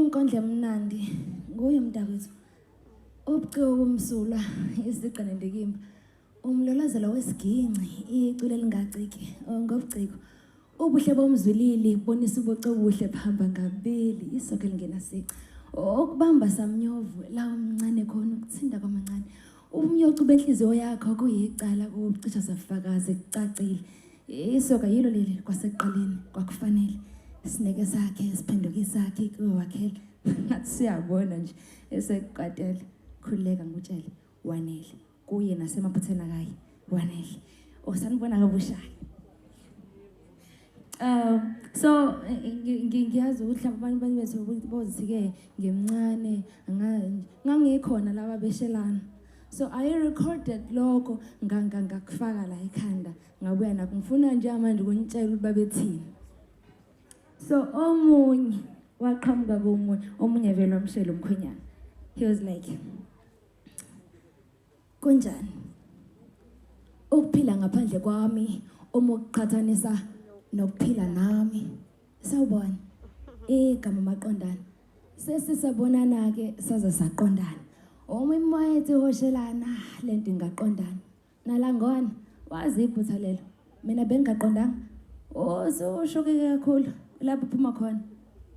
Inkondlo emnandi nguye mntakwethu. Ubuciko kumsulwa isigqi nendikimba. Umlolozelo wesiginci icule lingaciki ngobuciko. Ubuhle bomzwilili bonisa ubuco obuhle phamba ngabili isoke lingenasici. Okubamba samnyovu la umncane khona ukuthinda kwamancane. Umyocu benhliziyo yakho kuyicala kucisha safakazi kucacile. isoka yilo leli kwasekuqaleni kwakufanele sineke sakhe siphenduke isakhe kuwakhela ngathi siyabona nje esekuqatele khululeka ngutshele wanele kuye nasemaphutheni akaye wanele osanibona kabushayo Um so ngiyazi ukuthi laba bantu abanye bethu bozi-ke ngimncane ngangikhona laba beshelana so i recorded lokho ngangangakufaka la ekhanda ngabuya nakho ngifuna nje manje ukunitshela ukuthi babethini so omunye waqhamuka komunye omunye vele wamshela umkhwenyana he was like kunjani ukuphila ngaphandle kwami uma ukuqhathanisa nokuphila nami sawubona igama maqondana sesisabonana-ke saze saqondana uma imoya ethi hoshelana le nto ingaqondana nalangona wazi iphutha lelo mina bengingaqondanga osushuke oh, kakhulu lapho uphuma khona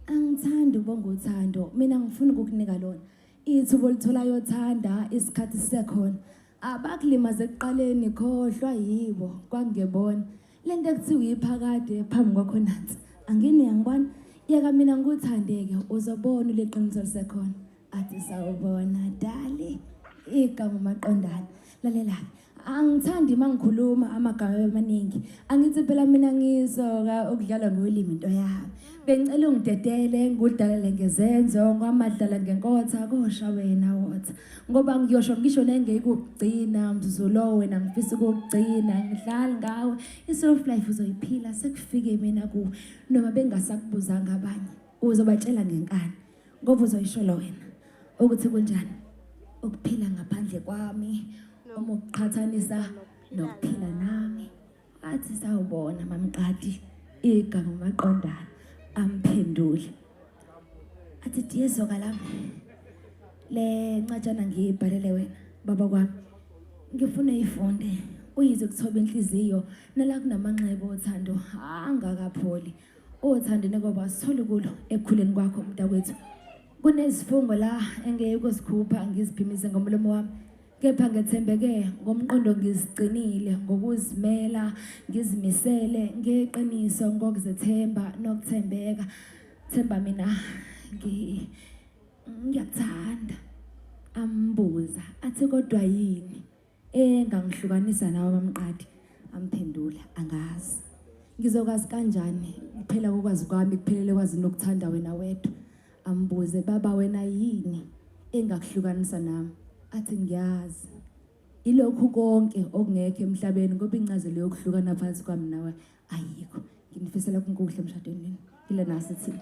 angithandi ubonga uthando mina ngifuna ukukunika lona ithuba olitholayo thanda isikhathi sisekhona abakulimaze ekuqaleni khohlwa yibo kwangebona Le nto ekuthiwa iphakade phambi kwakho nansi angini yangibona yeka mina ngikuthandeke uzobona uliqiniso lisekhona athi sawubona dali igama maqondana lalela-ke angithandi uma ngikhuluma amagama amaningi angithi phela mina ngisoka ukudlala ngolimi into yami bengicela ungidedele ngikudalele ngezenzo kwamadlala ngenkotha kosha wena wotha ngoba ngiyosho ngisho nengekugcina mzuzu lowo wena ngifisa ukugcina ngidlali ngawe i-self life uzoyiphila sekufike mina kuwe noma bengasakubuzanga abanye uzobatshela ngenkani ngoba uzoyisholo wena ukuthi kunjani ukuphila ngaphandle kwami uma ukuqhathanisa nokuphila nami Athi sawubona mamqadi igama maqondana amphendule. Athi diyezoka la. Le ncatshana ngiyibhalele wena baba kwami. Ngifuna ifunde uyize kuthoba inhliziyo nala kunamanxeba othando angakapholi. Othando nekoba sithole kulo ekukhuleni kwakho mntakwethu. Kunezifungo la engeke ukuzikhupha ngiziphimise ngomlomo wami kepha ngethembeke ngomqondo ngizigcinile ngokuzimela ngizimisele ngeqiniso ngokuzethemba nokuthembeka themba mina ngiyakuthanda ambuza athi kodwa yini engangihlukanisa nawe bamqadi amphendula angazi ngizokwazi kanjani kuphela kokwazi kwami kuphelele kwazi nokuthanda wena wedwa ambuze baba wena yini engakuhlukanisa nami athi ngiyazi ilokhu konke okungekho emhlabeni ngoba incazelo yokuhlukana phansi kwami nawe ayikho nginifisela kunkuhle emshadweni wenu ile nasi thina